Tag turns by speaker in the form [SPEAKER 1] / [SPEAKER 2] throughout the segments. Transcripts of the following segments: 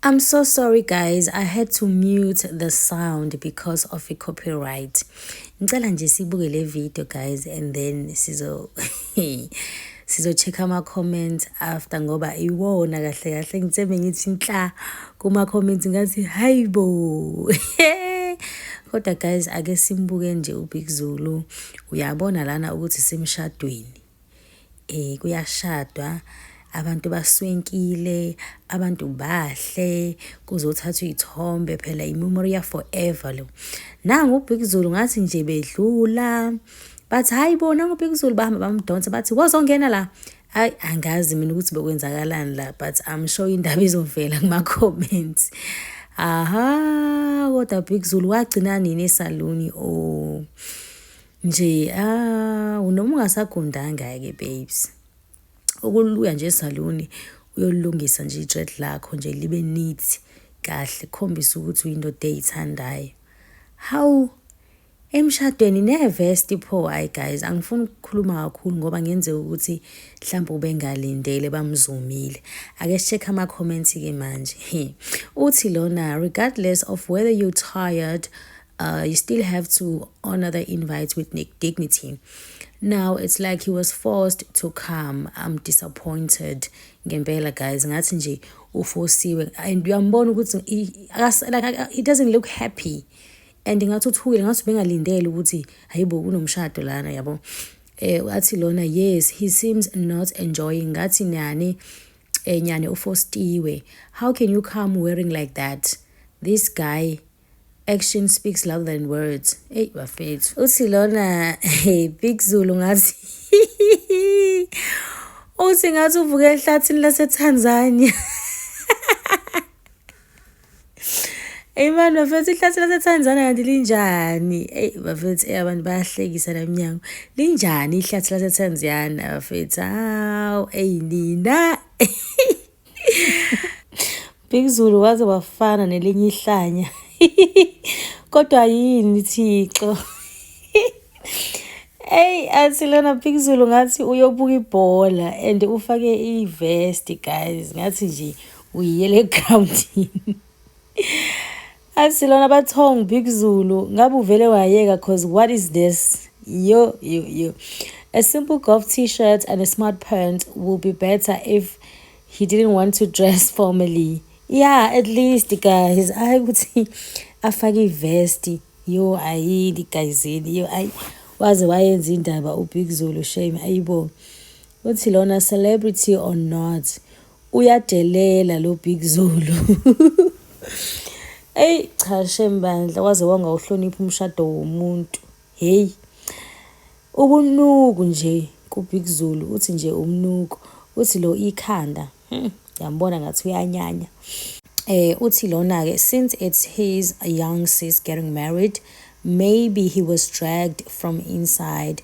[SPEAKER 1] I'm so sorry guys, I had to mute the sound because of a copyright. Ngicela nje sibuke le video guys and then sizo sizo check ama comments after ngoba iwona kahle kahle ngitseme ngithi nhla kuma comments ngathi hayibo. Kodwa guys ake simbuke nje uBig Zulu. Uyabona lana ukuthi simshadweni. eh kuyashadwa abantu baswinkile abantu bahle kuzothathwa iy'thombe phela i-memoria forever lo nangu ubhikuzulu ngathi nje bedlula bathi hhayi bona ngubhikuzulu bahamba bamdonsa bathi wozongena la hayi angazi mina ukuthi bekwenzakalani la but i'm sure indaba izovela kuma-comments aha kodwa big zulu wagcina nini esaluni o oh. nje ah noma ungasagundanga-ke babes ukuluya nje esaluni uyolungisa nje i-dread lakho nje libe neat kahle khombisa ukuthi uyindoda eyithandayo hawu emshadweni nevesti pho hayi guys angifuni ukukhuluma kakhulu ngoba ngenzeka ukuthi mhlawumbe ubengalindele bamzumile ake sicheck ama-comment-ke manje uthi lona regardless of whether you tired uh, you still have to honor the invite with dignity. Now it's like he was forced to come. I'm disappointed ngempela guys ngathi nje ufosiwe and uyambona ukuthi like he doesn't look happy and ngathi uthukile ngathi bengalindele ukuthi hayibo kunomshado lana yabo eh wathi lona yes he seems not enjoying ngathi nyane eh nyane ufostiwe how can you come wearing like that this guy Action speaks louder than words. Hey bafethu. Uthi lona hey Big Zulu ngathi uthi ngathi uvuke ehlathini laseTanzania. Hey man bafethu ihlathi laseTanzania kanti linjani? Hey bafethu hey abantu bayahlekisa namnyango. Linjani ihlathi laseTanzania bafethu? Haw hey nina. Big Zulu waze wafana nelinye ihlanya. Kodwa yini Thixo? Hey asilona Big Zulu ngathi uyobuka ibhola and ufake ivest guys ngathi nje uyiyele groundini. asilona bathong big zulu ngabe uvele wayeka cause what is this yo yo yo a simple golf t-shirt and a smart pant will be better if he didn't want to dress formally yeah at least guys ayi ukuthi afake ivesti yo ayi ligayizini yo ayi waze wayenza indaba ubig zulu shame ayibo uthi lona celebrity or not uyadelela lo big zulu eyi cha shembandla waze wangawuhlonipha umshado womuntu heyi ubunuku nje kubig zulu uthi nje umnuko uthi lo ikhanda hmm, yambona ngathi uyanyanya eh uthi lona ke since it's his young sis getting married maybe he was dragged from inside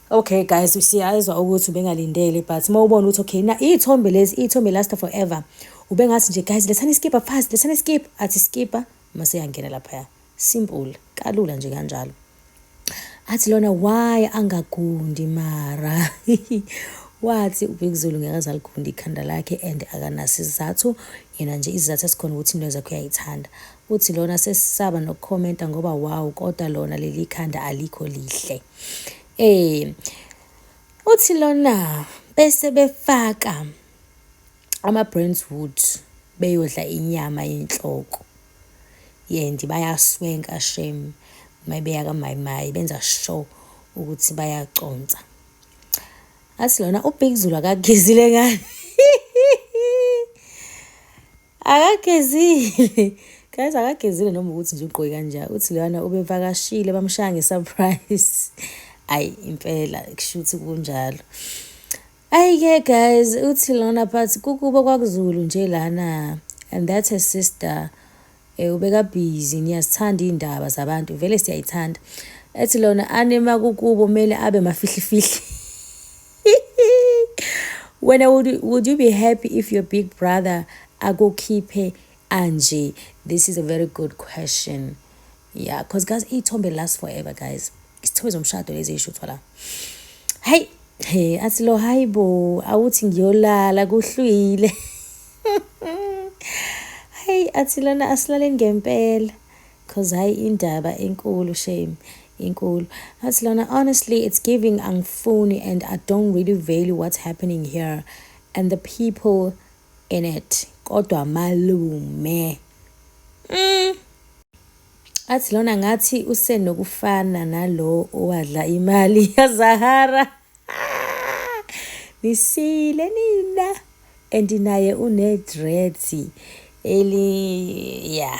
[SPEAKER 1] Okay guys siyazwa ukuthi ubengalindele but uma ubona ukuthi okay na iy'thombe lezi iy'thombe last forever ubengathi nje guys lethani iskipha fast lethani iskipha athi skipha mase yangena laphaya simple kalula nje kanjalo athi lona why angagundi mara wathi ubekuzulu ngeke azalikhunda ikhanda lakhe and akanasizathu yena nje izizathu esikhona ukuthi into zakhe uyayithanda Uthi lona sesisaba noku commenta ngoba wow kodwa lona lelikhanda alikho lihle. Eh uthi lona bese befaka ama brands wood beyodla inyama yenhloko yendi bayaswenka shame mayibeya kamayimayi benza show ukuthi bayaconsa athi lona ubig zulu akagezile ngani akagezile guys akagezile noma ukuthi nje ugqoke kanjani uthi leyana ubevakashile bamshaya ngesurprise ayi impela kushuthi kunjalo ayike guys uthi lona phathi kukubo kwakuzulu nje lana and that's her sister um eh, ubekabhizi niyazithanda iy'ndaba zabantu vele siyayithanda ethi lona anema kukubo kumele abe mafihlifihli wena would, would you be happy if your big brother akukhiphe anje this is a very good question yeah because guys iy'thombe last forever guys isithombe zomshado lezi eyishuthwa la hayi he athi lo hayi bo awuthi ngiyolala kuhlwile hayi athi lona asilaleni ngempela Cause hayi indaba inkulu shame inkulu. Athi lona honestly it's giving angifuni and I don't really value what's happening here and the people in it. Kodwa malume. Mm. Athi lona ngathi usenokufana nalo owadla imali yaZahara. Nisile nina and naye une dreads eli yeah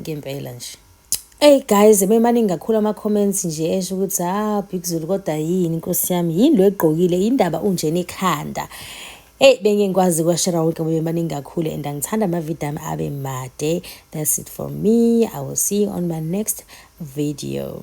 [SPEAKER 1] ngempela nje Hey guys bemaningi kakhulu ama comments nje esho ukuthi ah Big Zulu kodwa yini inkosi yami yini lo egqokile indaba unje nekhanda Hey bengingikwazi kwashera wonke ngoba bemaningi kakhulu and angithanda ama video ami abe made that's it for me i will see you on my next video